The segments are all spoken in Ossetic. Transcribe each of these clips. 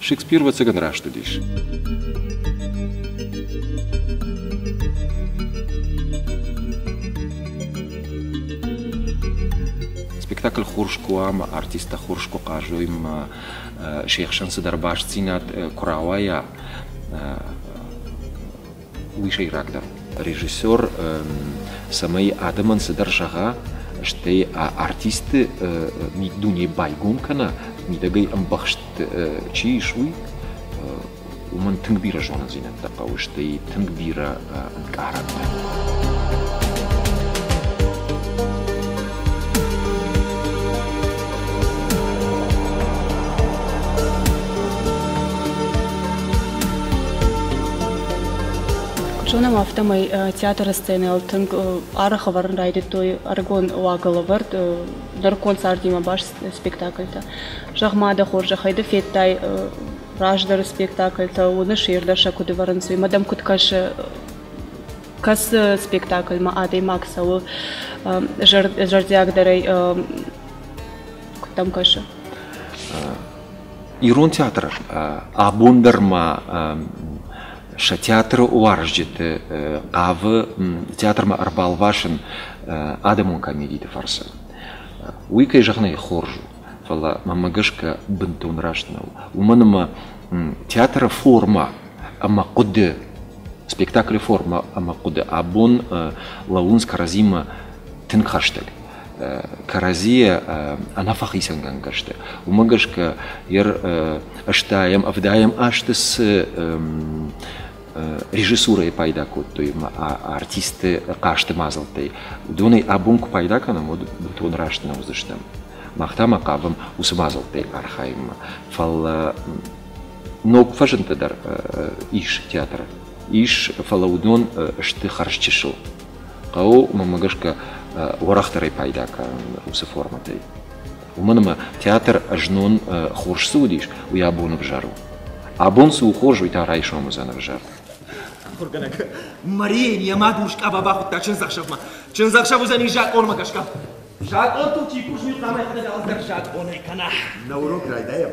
Шекспир, ӕвӕццӕгӕн, раст уыдис. спектакль хурскуа ӕмӕ артисттӕ хурскуы хъазоймӕ се хсӕн цыдӕр бастдзинад куы рауайа уый сӕйрагдӕр режиссер цӕмӕй адӕмӕн цыдӕр зӕгъа стӕй артисты миддуне байгом кӕна мидӕгӕй ӕмбӕхст чи ис уый уымӕн тынг бирӕ зонындзинӕдтӕ хъӕуы стӕй тынг бирӕ ӕнкъарӕнтӕ Куыд зонӕм, афтӕмӕй театры сценӕйыл тынг арӕх ӕвӕрын райдыдтой ӕрыгон уагӕлӕвӕрд нырыккон цардимӕ баст спектакльтӕ. Зӕгъ-ма, дӕ хорзӕхӕй, ды федтай раздӕры спектакльтӕ, уыны сӕ ирдӕр сӕ куыд ӕвӕрынц, уый, мадам куыд кӕсы кӕцы спектакльмӕ адӕймаг цӕуы зӕрдиагдӕрӕй куыд дӕм кӕсы? Ирон театр абон дӕр ма сӕ театры уарзджыты хъавы театрмӕ ӕрбалвасын адӕмон комедиты фӕрцы. Уый, кӕй зӕгъын ӕй хорз у, фӕлӕ мӕмӕ гӕсгӕ бынтон раст нӕу. Уымӕн ӕмӕ театры формӕ ӕмӕ хъуыды Спектаклы формӕ ӕмӕ хъуыды абон лӕууынц кӕрӕдзимӕ тынг хӕстӕг. Кӕрӕдзийӕ ӕнӕфӕхицӕнгӕнгӕ сты. Уымӕ гӕсгӕ йӕ ӕстайӕм, ӕвдайӕм азты цы режиссурӕйы пайда кодтой ӕмӕ артисты хъазты мадзӕлттӕй, уыдонӕй абон куы пайда кӕнӕм, уӕд бынтон раст нӕ уыдзыстӕм. Мах та ма хъавӕм уыцы мадзӕлттӕй архайынмӕ. Фӕлӕ ног фӕзынтӕ дӕр ис театры. Ис, фӕлӕ уыдон сты хӕрз чысыл. Хъӕуы уымӕ гӕсгӕ уӕрӕхдӕрӕй пайда кӕнын уыцы формӕтӕй. Уымӕн ӕмӕ театр знон хорз цы уыдис, уый абон ӕвзӕр у. Абон цы у хорз, уый та райсом уыдзӕн ӕвзӕр. Ахуыргӕнӕг, Марийӕн йӕ мад урс къаба бахуыдта чындзӕхсӕвмӕ. Чындзӕхсӕв уыдзӕни закъонмӕ гӕсгӕ. Закъонтыл чи кусын и, хъуамӕ йӕхӕдӕг алцдӕр закъонӕй кӕна. На урок райдайӕм.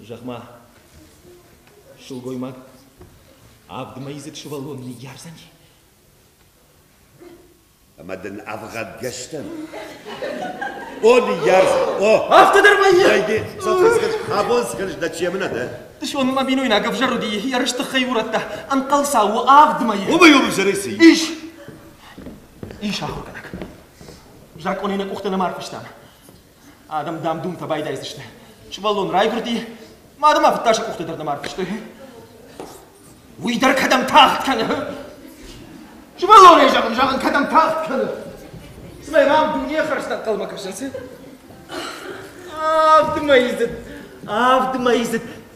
Зӕгъ-ма, сылгоймаг, авд мӕйдзыд сывӕллон ныййардзӕни? Ӕмӕ дын ӕвгъӕдгӕс дӕн? О, ныййарз! О! Афтӕ дӕр вӕййы? Вайди, сӕфын скӕныс, абон скӕныс дӕ чемынӕ дӕ? Дышон мӕ бинойнаг ӕвзӕр уыди, ерысты хай урӕдта, ӕнхъӕлцау у авд мӕйы. Омӕй-омӕй зӕрӕй цы и? Ис! Ис ахуыргӕнӕг. Закъонӕй нӕ къухтӕ нӕма ӕрфыстам. Адӕм, дам-дум фӕбайдайдзысты. Сывӕллон райгуырди, мады ма фыдтӕ сӕ къухты дӕр нӕма ӕрфыстой. Уый дӕр кӕдӕм тагъд кӕны? Сывӕллонӕй зӕгъын, зӕгъын, кӕдӕм тагъд кӕны? Цымӕ мӕм дунейы хӕрзтӕ ӕнхъӕлмӕ кӕсынц? Авд мӕй изыд, авд мӕй изыд.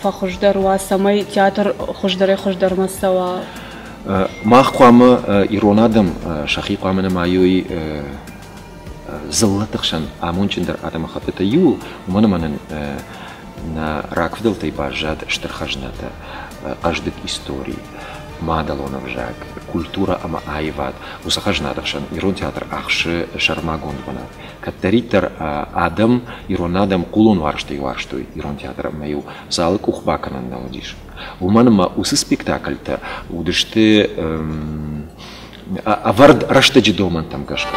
фӕхуыздӕр уа, цӕмӕй театр хуыздӕрӕй-хуыздӕрмӕ цӕуа? Мах хъуамӕ ирон адӕм сӕхи хъуамӕ нымайой дзыллӕты хсӕн амондджындӕр адӕмыхӕттытӕ иууыл, уымӕн ӕмӕ нын нӕ рагфыдӕлтӕй баззад стыр хӕзнатӕ, хъӕздыг истори, мадӕлон ӕвзаг, культурӕ ӕмӕ аивад. Уыцы хӕзнаты хсӕн ирон театр ахсы сӕрмагонд бынат. Кӕддӕриддӕр адӕм, ирон адӕм хъулон уарзтӕй уарзтой ирон театр ӕмӕ-иу залы къух бакӕнӕн нал уыдис. Уымӕн ӕмӕ уыцы спектакльтӕ уыдысты ӕвӕрд рӕстӕджы домӕнтӕм гӕсгӕ.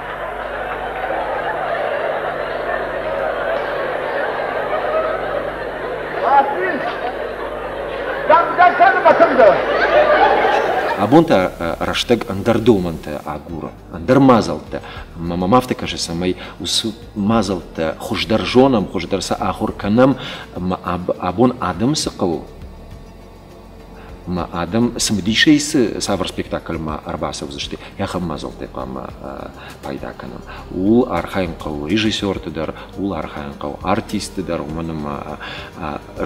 Абон та рӕстӕг ӕндӕр домӕнтӕ агуры, ӕндӕр мадзӕлттӕ. Ӕмӕ мӕм афтӕ кӕсы, цӕмӕй уыцы мадзӕлттӕ хуыздӕр зонӕм, хуыздӕр сӕ ахуыр кӕнӕм. Ӕмӕ абон адӕмы цы хъӕуы? Адӕм цымыдисӕй цы цавӕр спектакльмӕ ӕрбацӕудзысты, ахӕм мадзӕлттӕ хъуамӕ пайда кӕнӕм. Ууыл архайын хъӕуы режиссерты дӕр, ууыл архайын хъӕуы артистты дӕр, уымӕн ӕмӕ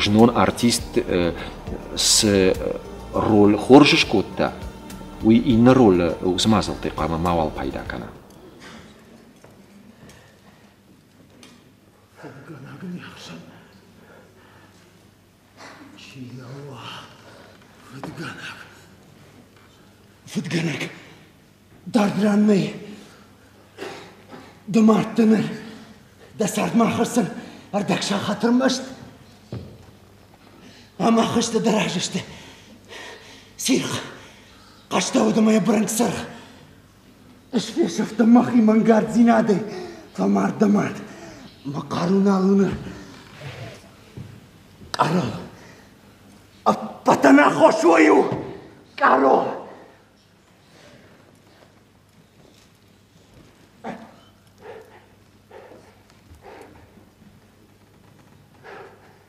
знон артист цы роль хорз скодта, уый иннӕ ролы уыцы мадзӕлттӕй хъуамӕ мауал пайда кӕна. Фыдгӕнӕг, дард ран нӕй. Ды мӕрдты ныр, дӕ цардмӕ ахӕссын ӕрдӕгсӕн хатыр маст. Ӕмӕ хызты дӕ разы сты. Сирх, хъӕстӕ уыд ӕмӕ йӕ бырынкъ сырх. Ысфесӕфтӕн мӕхи мӕнгарддзинадӕй, фӕмард дӕ мад, мӕ хъару нал уыны. Къаро, ӕппӕт ӕнаххос уый у! Къаро!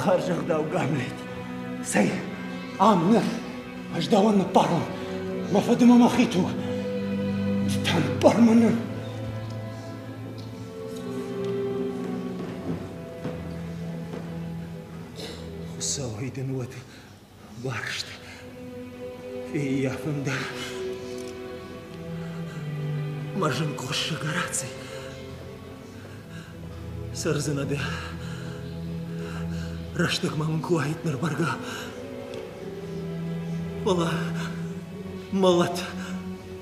Хӕрзӕгъдаугӕнӕг, цӕй, ам ныр, ӕз дӕуӕн ныппарон, мӕ фыды мӕ мӕхи ту, ды та ныппар мӕ ныр. Хуыцауӕй дын уӕд Барст, фиййа фӕнда. Мӕ зын къуыссӕг ӕраци. Сӕрдзын абе. Рӕстӕг мӕм куы уаид ныр бӕргӕ. Фӕлӕ мӕлӕт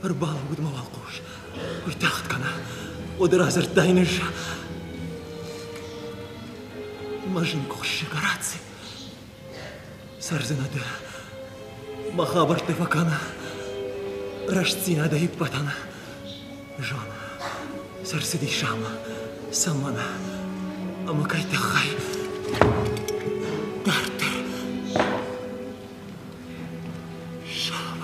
ӕрбалӕууыд мӕ уӕлхъус. Уый тагъд кӕна. Уӕд радзырдтай ныж. Мӕ зын къуыссӕг ӕраци. Цӕрдзинадӕ, мӕ хабӕртты фӕкӕна, рӕстдзинадӕ иппӕтӕн. Жан, сӕрцыдис ам, цӕмӕн ӕмӕ кӕй тыххӕй. Дарддӕр. Жан.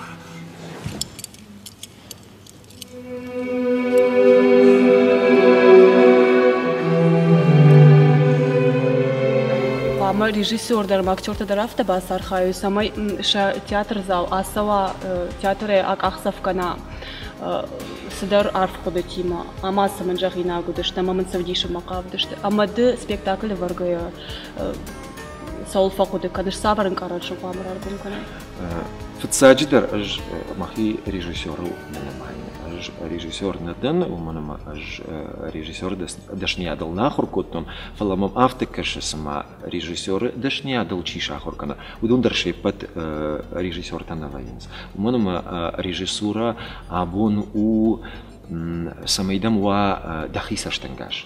Хъуамӕ режиссер дӕр ӕмӕ актертӕ дӕр афтӕ бацархайой, цӕмӕй сӕ театр зал ацӕуа театрӕй акъахдзӕф кӕна цыдӕр арф хъуыдытимӕ ӕмӕ сын мын зӕгъинаг уыдысты ӕмӕ мын цы вдисынмӕ хъавыдысты ӕмӕ ды спектакль ӕвӕргӕйӕ цӕуыл фӕхъуыды кӕныс цавӕр ӕнкъарӕн сыл хъуамӕ раргом кӕнай? Фыццаджыдӕр ӕз мӕхи режиссерыл нӕ нымайын. Ӕз режиссер нӕ дӕн, уымӕн ӕмӕ ӕз режиссер дӕсныйадыл нӕ ахуыр кодтон, фӕлӕ мӕм афтӕ кӕсы, цыма режиссеры дӕсныйадыл чи сахуыр кӕны, уыдон дӕр се ппӕт режиссертӕ нӕ вӕййынц. Уымӕн ӕмӕ режиссурӕ абон у, цӕмӕй дӕм уа дӕхи цӕстӕнгас.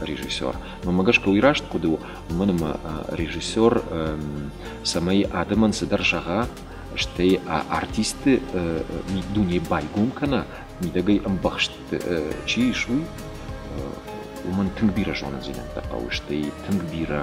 режиссер. Мӕмӕ гӕсгӕ уый раст хъуыды у, уымӕн ӕмӕ режиссер, цӕмӕй адӕмӕн цыдӕр зӕгъа, стӕй артисты дунейы байгом кӕна, мидӕгӕй ӕмбӕхст чи ис, уый, уымӕн тынг бирӕ зонындзинӕдтӕ хъӕуы, стӕй тынг бирӕ